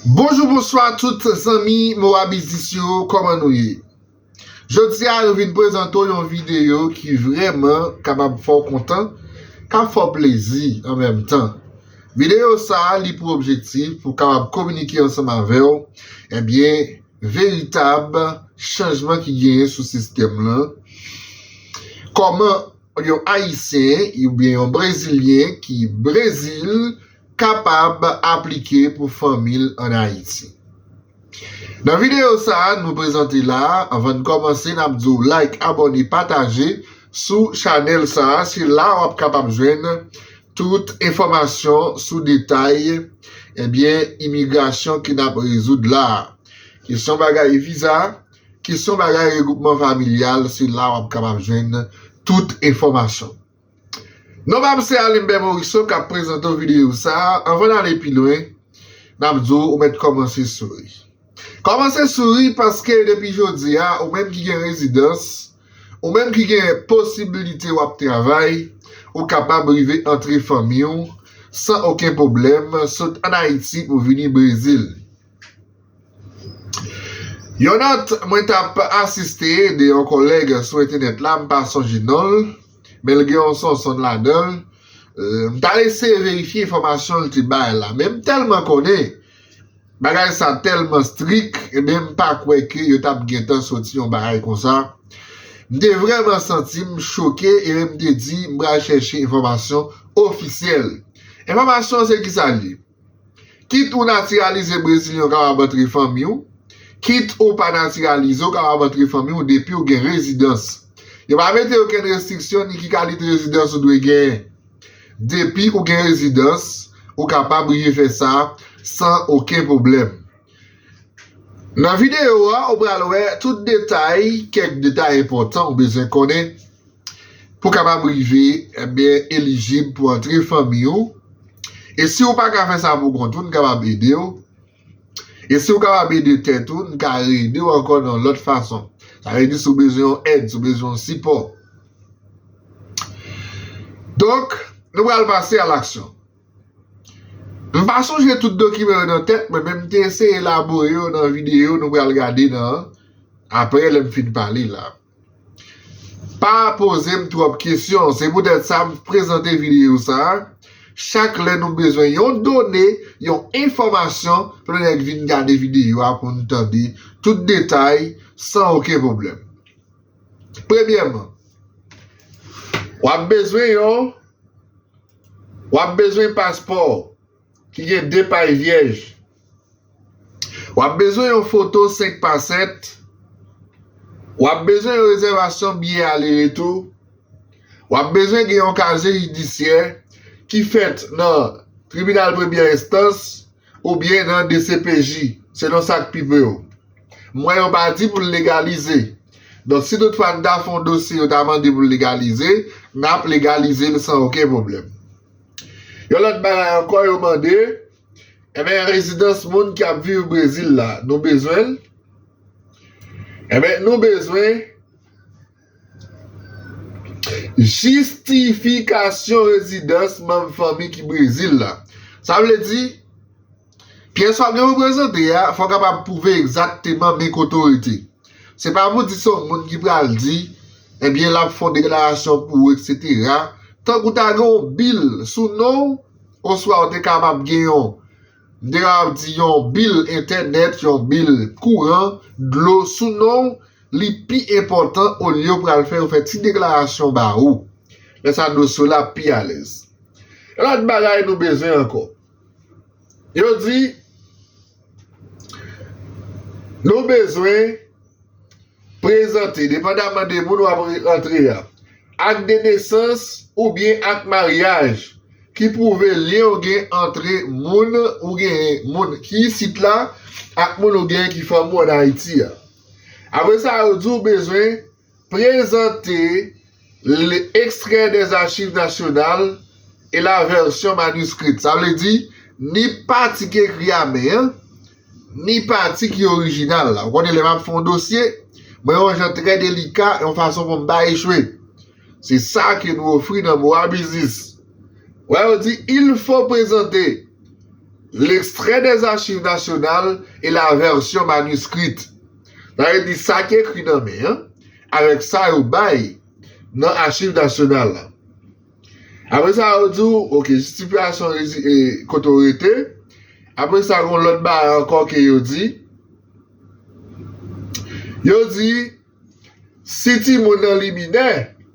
Bonjou bonswa tout zanmi moa biznis yo kòman nou ye jodi a nou vin prezante w yon videyo ki vrèman kapab fè w kontan kap fè w plezi an menm tan videyo sa li pou objektif pou kapab kominike ansanm avè w ebyen veritab chanjman ki genyen sou sistèm lan kòman yon ayisyen oubyen yon brezilyen ki brezil kapab aplike pou fanmi l an Ayiti. Nan videyo sa nou prezante la, anvan n kòmanse n ap di w like, abòne, pataje sou chanèl sa, se la w ap kapab jwenn tout enfòmasyon sou detay ebyen imigrasyon ke n ap rezoud la. Kesyon bagay viza, kesyon bagay regwoupman familyal se la w ap kapab jwenn tout enfòmasyon. Non pam se Alimbè Moriso kap prezante w videyo sa a, anvan n ale pi lwen nap di w ou mèt kòmanse souri. Kòmanse souri paske depi jodi a ou menm ki gen rezidans, ou menm ki gen posibilite wap travay, ou kapab rive antre fanmi w san oken pwoblèm sot an Ayiti pou vini Brezil. Yon nòt mwen t ap asiste de yon kòlèg sou entenèt la, m pa sonje non l, men l gen yon Sonson ladan l, m t al eseye verifye enfòmasyon l te bay la, men m tèlman konnen bagay sa tèlman strik, enben m pa kwè ke yo t ap gentan soti yon bagay konsa. M te vrèman santi m choke epi m te di m pral chèche enfòmasyon ofisyèl. Enfòmasyon an se kisa l ye? Kit ou natiralize Brezilyen ou kapab antre fanmi w, kit ou pa natiralize ou kapab antre fanmi w depiw gen rezidans. Yo pa mete okenn restriksyon ni ki kalite rezidans ou dwe genyen. Depi ou gen rezidans ou kapab rive fè sa san oken pwoblèm. Nan videyo a ou pral wè tout detay, kèk detay enpòtan ou bezwen konnen. pou kapab rive ebyen elijib pou antre fanmi ou e si ou pa ka fè sa pou kont ou n kapab ede w e si ou kapab ede tèt ou n ka reede w ankò nan lòt fason sa vle di si ou bezwen yon èd si ou bezwen yon sipò donk nou pral pase a laksyon m pa sonje tout dokiman yo nan tèt mwen men m te eseye elabore yo nan videyo nou pral gade nan aprè lè m fin pale la. Pa poze m twòp kesyon, se poutèt sa m prezante videyo sa a, chak lè nou bezwen yon done, yon enfòmasyon, plen nèg vin gade videyo a pou n tande tout detay san oken pwoblèm. Premyèman, w ap bezwen yon w ap bezwen paspò w ki gen de paj vyèj. Wap bezwen yon foto 5 pa 7 Wap bezwen yon rezèvasyon biyè ale retou Wap bezwen gen yon kazye jidisyè ki fèt nan Tribinal Premyè Enstans oubyen nan dcpj selon sa k pi pre w M wè yo pa di pou l legalize Donk si toutfwa n ta fè yon dosye yo ta mande pou l legalize n ap legalize l san oken pwoblèm Yon lòt bagay ankò yo mande Enben rezidans moun ki ap viv Brezil la nou bezwen l? Enben nou bezwen jistifikasyon rezidans manm fanmi ki Brezil la. Sa vle di pyès w ap gen pou prezante a fò w kapab pwouve egzakteman men kote w rete. Se pa pou di se yon moun ki pral di enben l ap fè yon deklarasyon pou ou eksetera tankou ta gen yon bil sou non w. Oswa ou te kapab gen yon, m te kapab di yon bil entènèt, yon bil kouran, dlo sou non ou, li pi enpòtan olye ou pral fè yon fè ti deklarasyon ba ou. Lè sa dosye w la ap pi alèz. Yon lòt bagay nou bezwen ankò. Yo di nou bezwen Prezante, depandaman de moun w ap rantre a, ak de nesans oubyen ak maryaj ki pwouve lyen ou gen antre moun ou genyen, moun ki isit la, ak moun ou genyen ki fanmi w ann Ayiti a. Apre sa, yo di w bezwen. Prezante l Extrait des Archives Nationales et la version manuscrite, sa vle di, ni pati ki ekri a men an, ni pati ki orijinal la. Ou konnen lè m ap fè yon dosye, mwen yon jan trè delika, yon fason pou m pa echwe. Se sa ke nou ofri nan Boa Business. Wè yo di, il faut présenter l'extrait des Archives Nationales et la version manuscrite. Sa vle di sa ki ekri nan men an avèk sa yo bay nan Achiv Nasyonal la. Apre sa yo di w, ok, jistifiyasyon kote w rete. Apre sa gen yon lòt bagay ankò ke yo di. Yo di, si timoun nan li minè.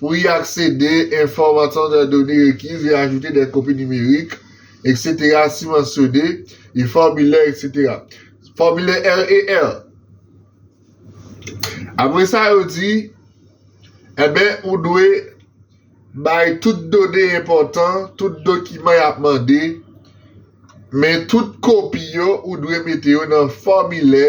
Pou y aksede, enfòmasyon nan done rekiz e ajoute dè kopi nimerik, eksetera si mansyone, e fòmilè, eksetera Fòmilè RER. Apre sa yo di, Enben, ou dwe bay tout done enpòtan, tout dokiman y ap mande, men tout kopi yo ou dwe mete yo nan fòmilè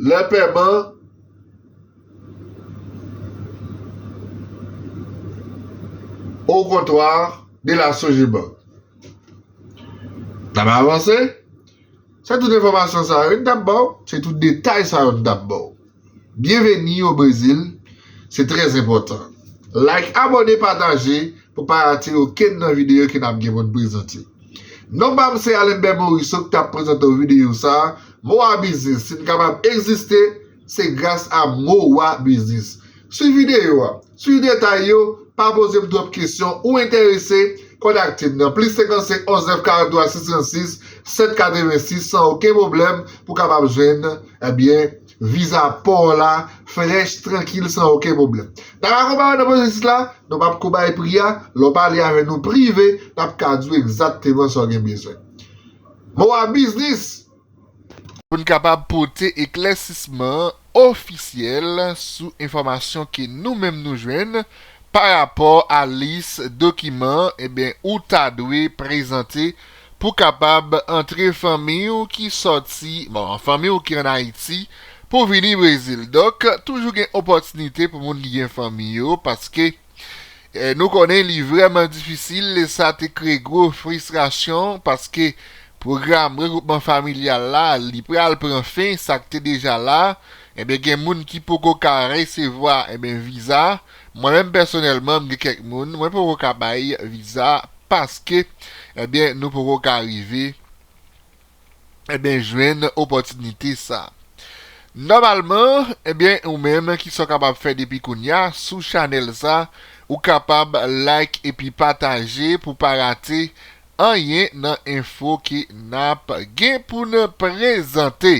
Lè pèman Au comptoir de la Sogebank tap avanse, se tout enfòmasyon sa yo n tap ba w, se tout detay sa yo n tap ba w. Bienvenue au Brésil, se trè enpòtan. Like, abòne, pataje. Pou pa rate okenn nan videyo ke nap gen pou n prezante. Non pa m se Alember Morisseau ki tap prezante w videyo sa a, MOWA Biznis si n kapab egziste se gras a MOWA Biznis. Swiv videyo a, swiv detay yo, pa poze m twòp kesyon, ou enterese, kontakte m nan plis 55 11 943 636 786 san oken pwoblèm pou kapab jwenn, ebyen. Viza paw la fresh trankil san oken pwoblem. Taka konba yo nan pwosesis la, nou pap ko bay pri a, lè w pale avè nou prive nap ka di w egzakteman sa w gen bezwen. Moa Business. Pou n kapab pote eklèsisman ofisyèl sou enfòmasyon ke nou menm nou jwenn pa rapò a lis dokiman, enben ou ta dwe prezante pou kapab antre fanmiy ou ki sòti bon fanmiy ou ki an ayiti pou vini brezil donk toujou gen opòtinite pou moun ki gen fanmiy yo paske nou konnen li vrèman difisil e sa te kreye gwo fristrasyon paske pwogram regwoupman familyal la li pral pran fen sak te deja la ebyen gen moun ki poko ka resevwa ebyen viza Mwen menm pèsonèlman m gen kèk moun mwen poko ka bay viza paske ebyen nou poko ka rive ebyen jwenn opòtinite sa. Nòmalman ebyen ou menm kisa w kapab fè depi kounya sou chanèl sa ou kapab like epi pataje pou pa rate anyen nan enfo ke nap gen pou n prezante.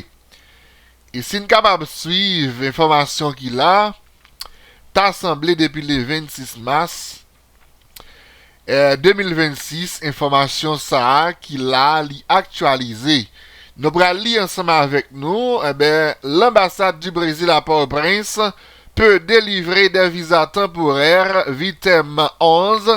E si n kapab swiv enfòmasyon ki la. Ta sanble depi le 26 mas 2026 enfòmasyon sa a ki la li aktyalize. Nou pral li ansanm avèk nou, Lanbasad di Brezil a Port-au-Prince peut délivrer des visas temporaires, vii tèm 11,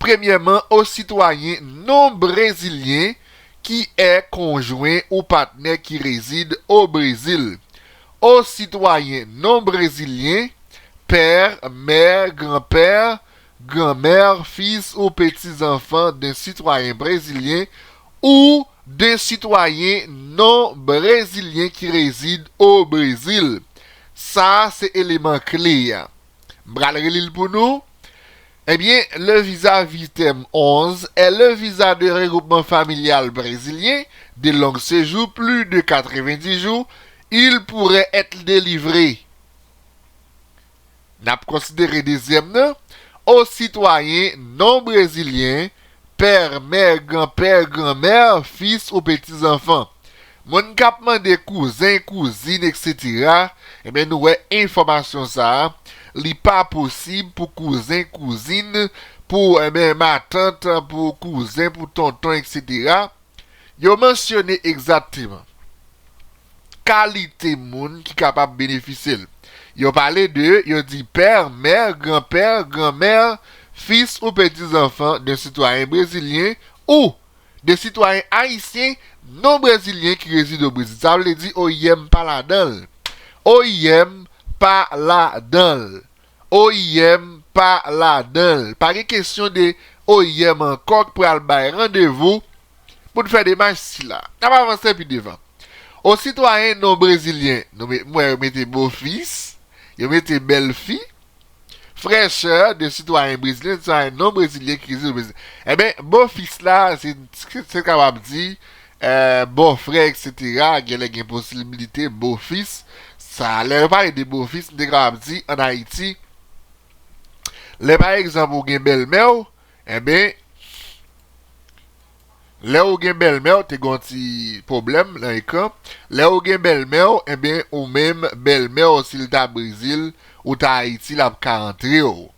Premyèman o sitwayen non brezilyen ki è konjwen ou patnè ki rezid o Brezil, o sitwayen non brezilyen, père, mère, grand-père, grand-mère, fils ou petits-enfants d'un citoyen brésilien ou d'un citoyen non brezilyen ki rezid o Brezil. Sa a se eleman kle a. M pral reli l pou nou. Ebyen, le visa Vitem 11 est le visa de regroupement familial brésilien de long séjour plus de 90 jours, il pourrait être délivré, n ap konsidere dezyèm nan, aux citoyens non brésiliens Pè, mè, gran pè, gran mè, fis ou petizanfan. Moun k ap mande kouzen, kouzin eksetera, enben nou wè enfòmasyon sa a, li pa posib pou kouzen, kouzin, pou, enben, matant, pou kouzen, pou tonton eksetera, Yo mansyone egzatteman kalite moun ki kapab benefisye l. Yo pale de, yo di père, mère, grand-père, grand-mère, fils ou petits enfants d'un citoyen brésilien ou de citoyens haïtiens non brezilyen ki rezide o Brezil. Sa vle di oim pa ladan l. Oim pa ladan l. oim pa ladanl pa gen kesyon de oim ankò k pral bay randevou pou n fè demach sila n ap avanse pi devan o sitwayen non brezilyen nou met m wè yo mete bofis yo mete bèlfi frèchè de sitwayen brezilyen sitwayen non brezilyen ki rezide o brezil enben bofis la se n kapab di Bòfrè eksetera genlè gen posiblite bofis sa lè yo pale de bofis m te kapab di an ayiti lè pa egzanp ou gen bèlmè w enben lè ou gen bèlmè w te gen yon ti pwoblèm nan ekran lè ou gen bèlmè w enben ou menm bèlmè w si l ta brezil ou ta ayiti l ap ka antre w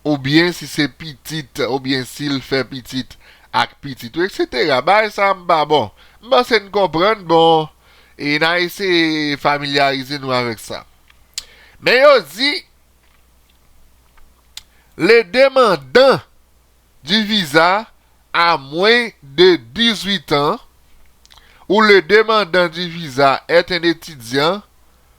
oubyen si se pitit oubyen si l fè pitit ak pitit ou eksetera bagay sa m pa bon m panse n konprann bon e na eseye familyarize nou avèk sa men yo di le demandan di viza a mwen de 18 an ou le demandan di viza èt en etidyan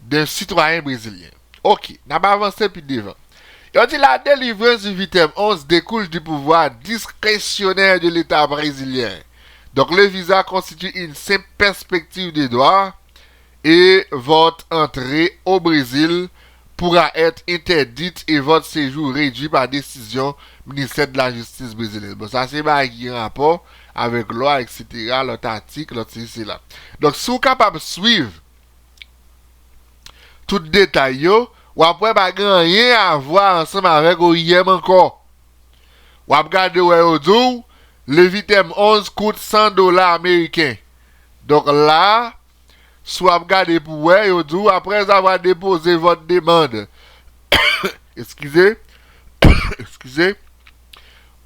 de sitwayen brezilyen. Ok, n ap avanse pi devan. Yo di la delivrans di vitem 11 dekouj di pouvwa diskresyonè de leta brezilyen. Donk le viza konstitye yn senp pèspektiv de dwa e vòt antre o Brezil poura èt entèdit e vòt sejou redwi pa desizyon ministè dla jistis brezilyen. Bon sa se bagay ki gen rapò avèk lwa eksetera, lòt atik, lòt sesi sela. Donk si w kapab swiv. Tout detay yo, w ap wè pa gen anyen avwa ansanm avèk oim ankò. W ap gade wè yo di w Levitem 11 kout 100 dola ameriken. Donk la, si w ap gade pou wè, yo di w aprèzavwa depoze vòt demand, eskize,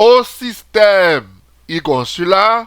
o sistèm e-konsila,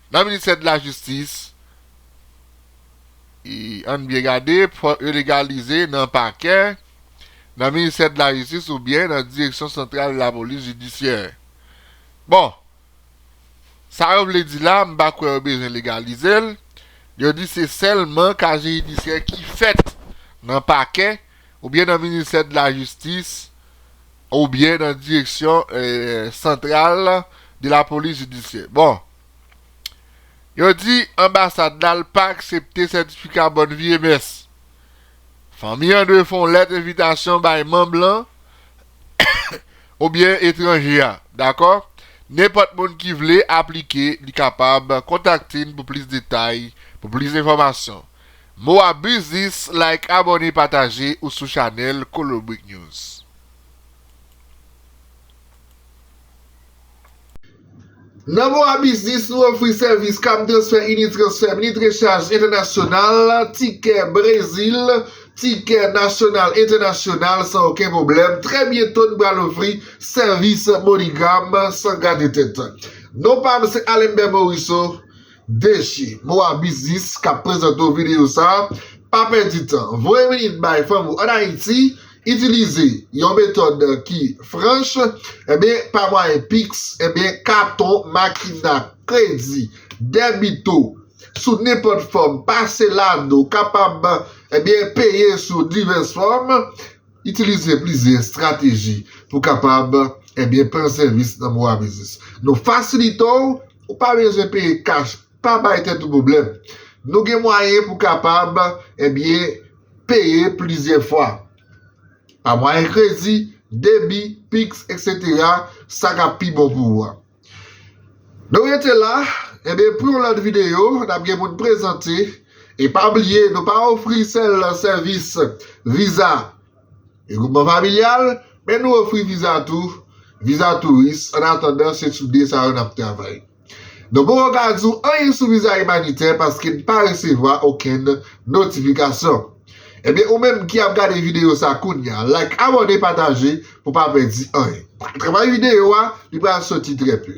Nan ministè de la jistis i ann byen gade fòk yo legalize nan pakè, nan ministè de la jistis ou byen nan direksyon santral la polis jidisyè. Bon, sa yo vle di la m pa kwè yo bezwen legalize l, yo di se sèlman kaje jidisyè ki fèt nan pakè ou byen nan ministè de la jistis, Ou byen nan direksyon santral de la polis jidisyè. Bon. Yo di anbasad la l pa aksepte sètifika bòn vi e mès. Fanmi an dwe fè yon lèt envitasyon bay manm lan ou byen etranje a. Dakò? Nenpòt moun ki vle aplike li kapab kontakte n pou plis detay, pou plis enfòmasyon. Mo a biznis like abòne pataje ou sou chanèl kolobrik news. Nan mo a biznis nou ofri sèvis kab transfè ini transfè mini trechaj entènasyonal tikè brezil tikè nasyonal entènasyonal san oken pwoblèm trè byento n pral ofri sèvis monigam san gade tèt non pa m se Alember Morisseau DG, Moa Business, k ap prezante w videyo sa a, pa pèdi tan. Voye minit bay fanm ou ann Ayiti. Itilize yon metòd ki franch, enben pa mwayen Pix, enben katon, makina, kredi, dèbito, sou nenpòt fòm, pase lado, kapab enben peye sou divès fòm. Itilize plizyè estrateji pou w kapab ebyen pran sèvis nan MOA Biznis. Nou fasilite w, ou pa bezwen peye kach, pa bay tèt ou pwoblèm. Nou gen mwayen pou w kapab ebyen peye plizyè fwa, pa mwayen kredi, debi, piks, eksetera, sa k ap pi bon pou ou a. Nou rete la, enben pou yon lòt videyo nap gen pou n prezante e pa bliye nou pa ofri sèl sèvis viza regwoupman familyal men nou ofri viza tou viza touris an atandan se sou 2 sa yo nap travay nou poko ka di w anyen sou viza imanitè paske n pa resevwa okenn notifikasyon. Ebyen ou menm ki ap gade video sa kounya like abone pataje pou pa pèdi anyen travay video a li pral soti trè peu.